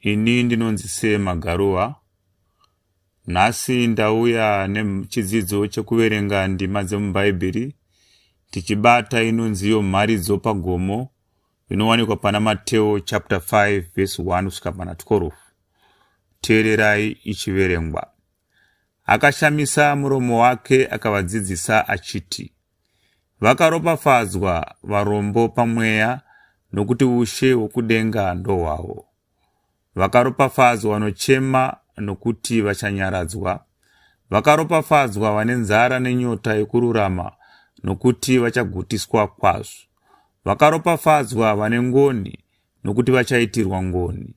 Ini ndinonzi Sir Magaruwa. Nhasi ndauya nechidzidzo chekuverenga ndima dzemuBhaibheri tichibata inonziyo mharidzo pagomo inowanikwa pana Mateo chapter 5 verse 1 kusvika pana 12. Teererai ichiverengwa. Akashamisa muromo wake akavadzidzisa achiti, Vakaropafadzwa varombo pamweya, nokuti ushe hwokudenga ndohwavo. Vakaropafadzwa vanochema, nokuti vachanyaradzwa. Vakaropafadzwa vane nzara nenyota yokururama, nokuti vachagutiswa kwazvo. Vakaropafadzwa vane ngoni, nokuti vachaitirwa ngoni.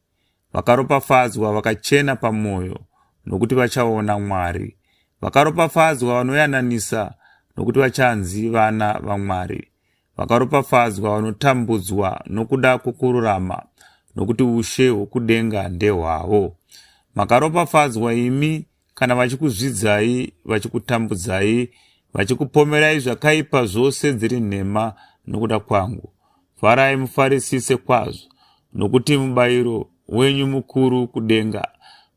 Vakaropafadzwa vakachena pamwoyo, nokuti vachaona Mwari. Vakaropafadzwa vanoyananisa, nokuti vachanzi vana vaMwari. Vakaropafadzwa vanotambudzwa nokuda kwokururama, nokuti ushe hwokudenga ndehwavo. Makaropafadzwa imi kana vachikuzvidzai vachikutambudzai vachikupomerai zvakaipa zvose dziri nhema nokuda kwangu farai mufarisise kwazvo nokuti mubayiro wenyu mukuru kudenga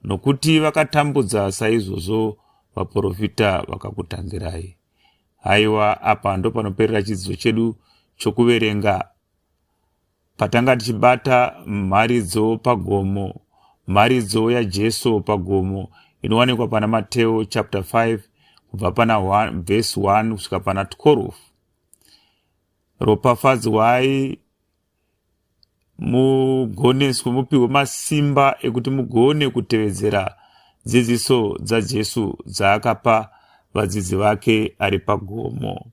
nokuti vakatambudza saizvozvo vaprofita vakakutangirai haiwa apa ndopanoperera chidzidzo chedu chokuverenga Patanga tichibata mharidzo pagomo, mharidzo yaJesu pagomo inowanikwa pana Mateo chapter 5 kubva pana verse 1 kusvika pana 12. Ropafadzwai mugoneswe mupiwe masimba ekuti mugone kutevedzera dzidziso dzaJesu dzaakapa vadzidzi vake ari pagomo.